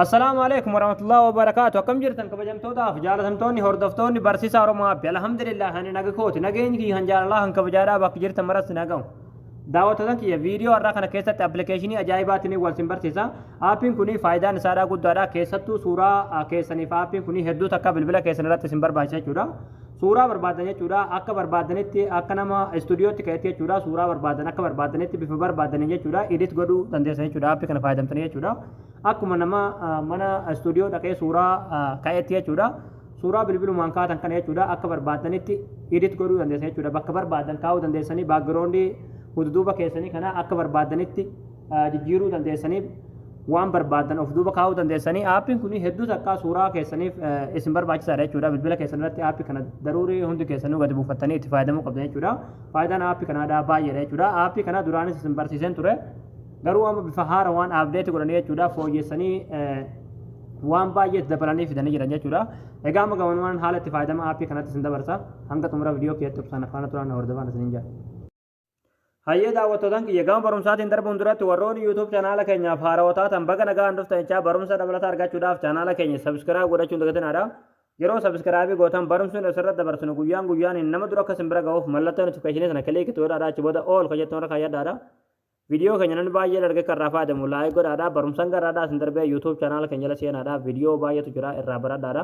Assalaamu alaikum warahmatullahi wabarakatuh akkam jirtan kabajamtootaaf jaalatamtoonni hordoftoonni barsiisaa Oromoo Abbi alhamdulillah ani naga kooti nageenyi kiyya kan jaalalaa kan kabajaadhaa bakka jirtan maratti nagahu daawwattoota kiyya viidiyoo har'aa kana keessatti appilikeeshinii ajaa'ibaatiin wal sin barsiisa aappiin kun faayidaan isaadhaa guddaadha keessattuu suuraa keessaniif aappiin kun hedduu takka bilbila keessan irratti sin barbaachisa jechuudha Suuraa barbaadan jechuudha. Akka barbaadanitti akka nama istuudiyootti ka'etti jechuudha. Suuraa barbaadan akka barbaadanitti bifa barbaadaniin jechuudha. Edit godhuu dandeessan jechuudha. Appii kana fayyadamtanii jechuudha. Akkuma nama mana istuudiyoo dhaqee suuraa ka'etti jechuudha. Suuraa bilbilumaan kaatan kana jechuudha. Akka barbaadanitti edit godhuu dandeessan jechuudha. Bakka barbaadan kaa'uu dandeessanii baakgiroondii hududuuba keessanii kana akka barbaadanitti jijjiiruu dandeessaniif waan barbaaddan of duuba kaa'uu dandeessanii aappiin kun hedduu takkaa suuraa keessaniif isin barbaachisaadha jechuudha bilbila keessan irratti aappii kana daruurii hundi keessanuu gadi buufattanii itti fayyadamuu qabdan jechuudha faayidaan aappii kanaadhaa baay'eedha jechuudha aappii kana duraanis isin barsiiseen ture garuu amma bifa haara waan aapdeeti godhanii jechuudha fooyyessanii waan baay'ee itti dabalanii fidanii jiran jechuudha egaa amma gabanumaan haala itti fayyadama aappii kanatti isin dabarsa hanga xumura viidiyoo keessatti obsaan afaana turaan hordofaan isiniin jedha Hayyee daawwattootan kiyya gama barumsaatiin darbuun duratti warroonni YouTube chaanaala keenyaaf haarawaa taatan baga nagaan dhuftan jechaa barumsa dabalataa argachuudhaaf chaanaala keenya sabiskiraayib godhachuun dagatinaadha. Yeroo sabiskiraayibii gootan barumsi nuti asirratti dabarsinu guyyaan guyyaan nama dura akka sin bira ga'uuf mallattoo notifikashinii sana kiliik itti godhaadha achi booda ool kan jettu irra kaayyadhaadha. Viidiyoo keenya namni baay'ee dargee kan irraa fayyadamu laayik godhaadha. Barumsan garraadhaa sin darbee YouTube chaanaala keenya jala seenaadha. Viidiyoo baay'eetu jira irraa baradhaadha.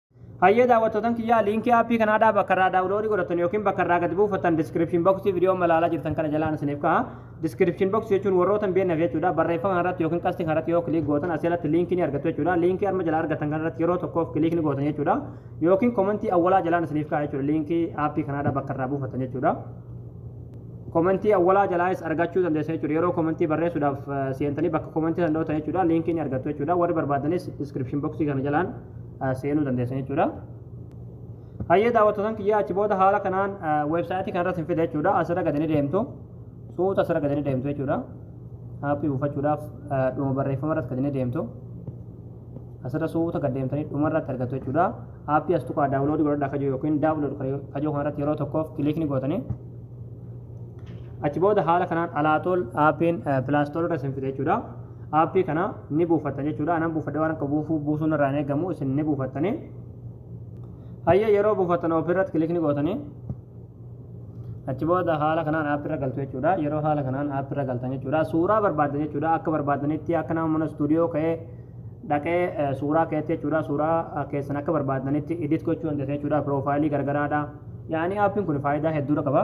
Hayyee daawwattootan kiyyaa liinkii aappii kanaa dhaa bakka irraa daawuloodii godhattan yookiin bakka irraa gad buufattan description box viidiyoo amma ilaalaa jirtan kana jalaan isiniif ka'a. Description box jechuun warroota hin beekneef jechuudha. Barreeffama irratti yookiin qastii kanarratti yoo kiliik gootan asii alatti liinkii ni argattu jechuudha. Liinkii arma jala argattan kanarratti yeroo tokkoof kiliik ni gootan jechuudha. Yookiin komentii awwalaa jalaan isiniif ka'a jechuudha. Liinkii aappii kanaa dhaa bakka irraa buufattan jechuudha. komentii awwalaa jalaayis argachuu dandeessan jechuudha yeroo komentii barreessuudhaaf seentanii bakka komentii san dhootan jechuudha liinkii ni argattu jechuudha warri barbaadanis description boxii kana jalaan seenuu dandeessan jechuudha. Hayyee daawwattootan kiyyaa achi booda haala kanaan weebsaayitii kanarratti hin fida jechuudha. Asirra gadi ni deemtu. Suuta asirra gadi ni deemtu jechuudha. Aappii buufachuudhaaf dhuma barreeffama irratti gadi ni deemtu. Asirra suuta gad deemtanii dhuma irratti argattu jechuudha. Aappii as tuqaa daawuloodii godhadhaa kajoo yookiin daawulood kajoo kanarratti yeroo tokkoof kiliikni gootanii achi booda haala kanaan alaatool aappiin pilaastool irra isin fide jechuudha. Aappii kana ni buufatta jechuudha. Anan buufadhe waan akka buufuu buusuun irraa hin eegamu isin ni buufattanii. Hayyee yeroo buufattan oofii irratti kilikni gootanii achi booda haala kanaan app irra galtu jechuudha. Yeroo haala kanaan app irra galtan jechuudha. Suuraa barbaaddan jechuudha. Akka barbaaddanitti akka nama mana istuudiyoo ka'ee dhaqee suuraa keetti jechuudha. Suuraa keessan akka barbaaddanitti edit gochuu dandeessan jechuudha. Piroofaayilii garagaraadha. Yaani aappiin kun faayidaa hedduudha qaba.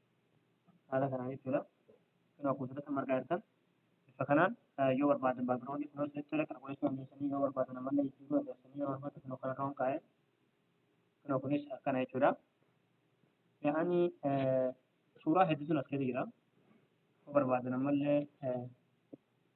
haala kanaan jechuudha. Kanaaf kuusaratti margaa jirtan bifa kanaan yoo barbaadan baakgiraawundii kunoo isinitti tole kana gochuu dandeessanii yoo barbaadan ammallee jijjiiruu dandeessanii yeroo barbaadan kunoo kana kaa'uun kaa'ee kunoo kunis akkana jechuudha. Yaa'ani suuraa hedduutu as keessa jira. Yoo barbaadan ammallee